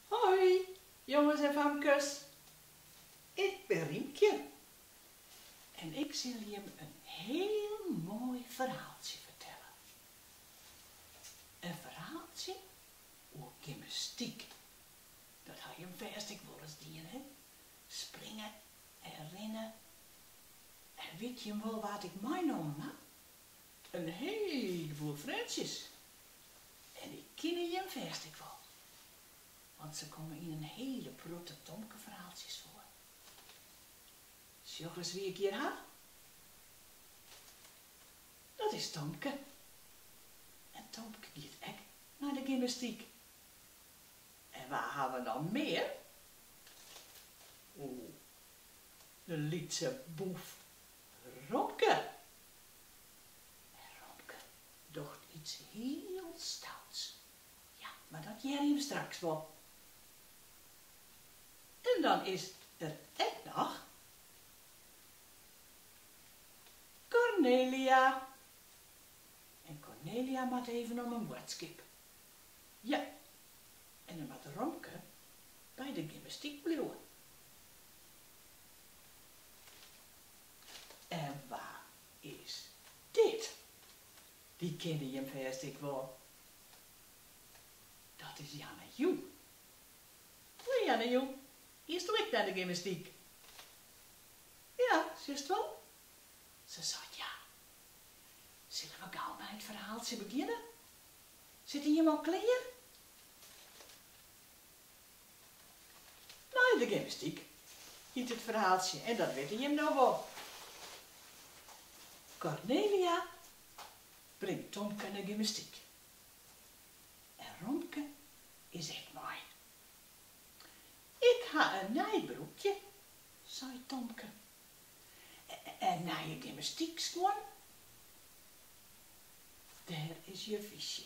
Hoi, jonges en famkes. Ik bin Riemkje en ik sil jim in hiel moai ferhaaltsje fertelle. In ferhaaltsje oer gymnastyk. Dat ha jim fêst ek wolris dien, hè? Springe en rinne. En wit jim wol wa't ik meinommen ha? In hiele boel freontsjes. En dy kenne jim fêst ek wol, want se komme yn in hiele protte Tomke-ferhaaltsjes foar. Sjoch ris wie ik hjir ha. Dat is Tomke. En Tomke giet ek nei de gymnastyk. En wa ha we noch mear? O, de lytse boef Romke! En Romke docht iets hiel stouts. Ja, mar dat hearje we straks wol. En dan is der ek noch Kornelia. En Kornelia moat even om in boadskip. Ja, en dan moat Romke by de gymnastyk bliuwe. En wa is dit? Dy kinne jim fêst ek wol. Dat is Yana Yu. Sa, Yana Yu, giesto ek nei de gymnastyk? Ja, sjochst wol? Se seit ja. Sille we gau mei it ferhaaltsje begjinne? Sitte jim al klear? Nei de gymnastyk, hyt it ferhaaltsje en dat witte jim no wol. Kornelia bringt Tomke nei gymnastyk en Romke is ek mei. Ik ha in nij broekje, seit Tomke, en nije gymnastykskuon. Dêr is juf Ytsje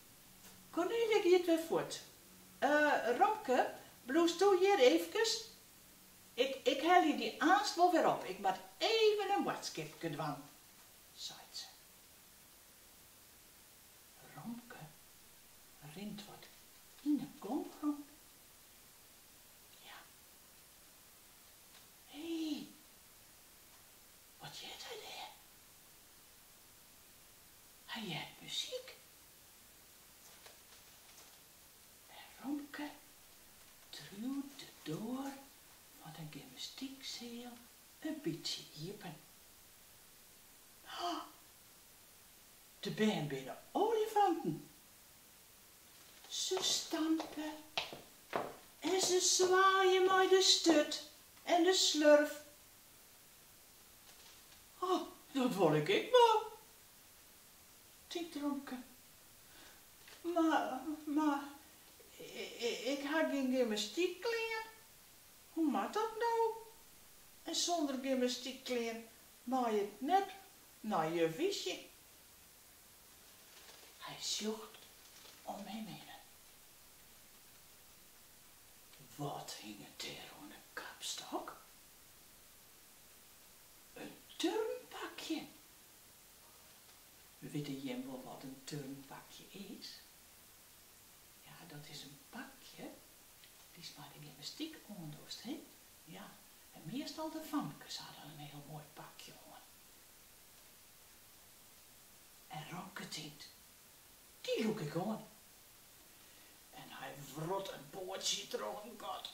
Kornelia giet wer fuort. Romke, bliuwsto hjir eefkes? Ik, ik helje dy aanst wol wer op, ik moat even in boadskipke dwaan, seit se. Romke rint wat yn 'e gong rûn. Ja. Hee, wat heart hy dêr? Hy heart muzyk. En Romke triuwt de doar fan de gymnastykseal in bytsje iepen. Ha! De bern binne olifanten! Se stampe en se swaaie mei de sturt en de slurf Oh, dat wol ik ek wol, tinkt Romke. Mar, mar, ik ha gjin gymnastykklean, hoe moat dat no? En sûnder gymnastykklean mei ik net nei juf Ytsje. Hy sjocht om him hinnen. Wat hinget dêr oan de kapstok? In turnpakje? Witte jim wol wat in turnpakje is? Ja, dat is in pakje dy'tst mei de gymnastyk oandochst, hin? Ja, en meastal de famkes ha dan in hiel moai pakje oan. En Romke tinkt, dy lûk ik oan. En hy wrot in poatsje troch in gat.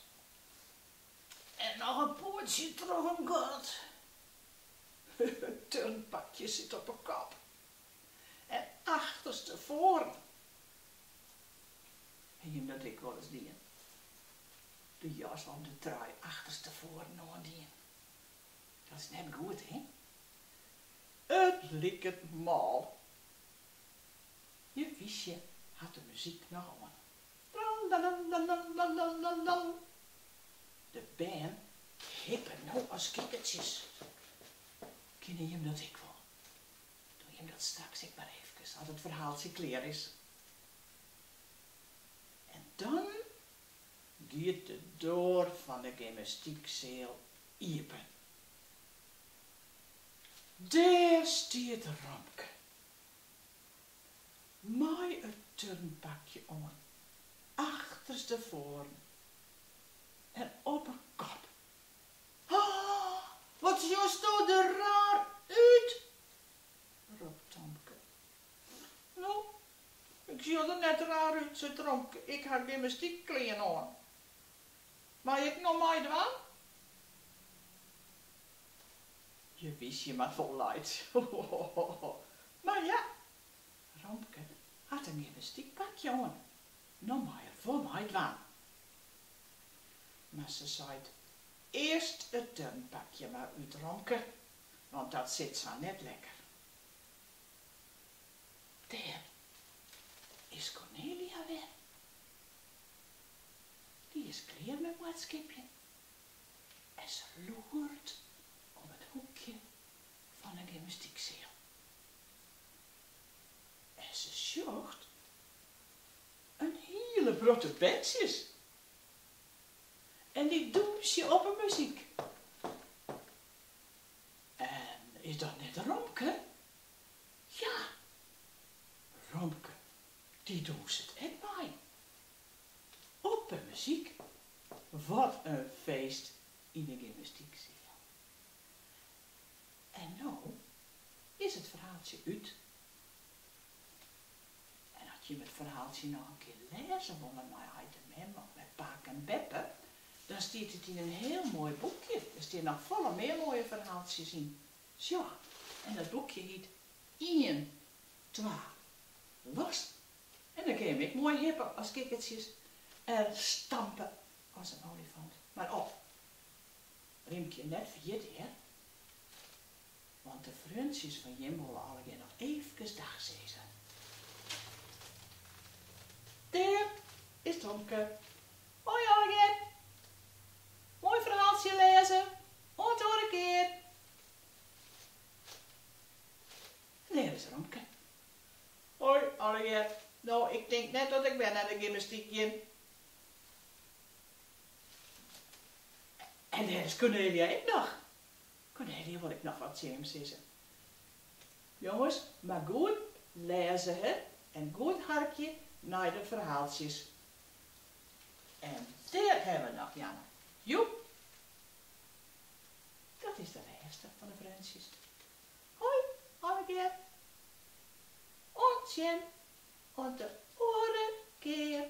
En noch in poatsje troch in gat. It turnpakje sit op 'e kop. En achterstefoaren. Ha jim dat ek wolris dien? De jas of de trui achterstefoaren oandien. Dat is net goed, hé? It liket mal. Juf Ytsje hat de muzyk noch oan. Tralalalalalalalal. De bern hippe no as kikkertsjes. Kinne jim dat ek wol? Doe jim dat straks ek mar efkes as it ferhaaltsje klear is. En dan giet de doar fan de gymnastykseal iepen. Dêr stiet Romke. mei in turnpakje oan, achterstefoaren en op 'e kop. Ha! Wat sjosto der raar út! ropt Tomke. No, ik sjoch der net raar út, seit Romke, ik ha gymnastykklean oan. Mei ik no meidwaan? Juf Ytsje moat wol laitsje, ho ho ho! Mar ja, Romke hat syn gymnastykpakje oan, no mei er wol meidwaan. Mar se seit, Earst it turnpakje mar út, Romke, want dat sit sa net lekker. Dêr is Kornelia wer. Dy is klear mei boadskipjen en se loert om it hoekje fan 'e gymnastykseal en se sjocht in hiele protte berntsjes en dy dûnsje op 'e muzyk. En is dat net Romke? Ja, Romke dy dûnset ek mei op 'e muzyk. Wat in feest yn 'e gymnastykseal. En no is it ferhaaltsje út. En as jim it ferhaaltsje noch in kear lêze wolle mei heit en mem of mei pake en beppe, dan stiet it yn in hiel moai boekje. Der stean noch folle mear moaie ferhaaltsjes yn. Sjoch, en dat boekje hiet Ien, twa, los! En dêr kin jim ek moai hippe as kikkertsjes en stampe as in olifant. Mar of. Rimkje net ferjitte hear, want de freontsjes fan jim wolle allegear noch eefkes dag sizze. Dêr is Tomke. Hoi allegear. Moai ferhaaltsje wêzen. Oant de oare kear. En dêr is Romke. Hoi allegear. No, ik tink net dat ik wer nei de gymnastyk gean. En dêr is Kornelia ek noch. Kornelia wol ek noch wat tsjin jim sizze. Jonges, mar goed lêze he en goed harkje nei de ferhaaltsjes. En dêr hawwe we noch Yana Yu! Dat is de lêste fan de freontsjes. Hoi allegear! Oant sjen, oant de oare kear!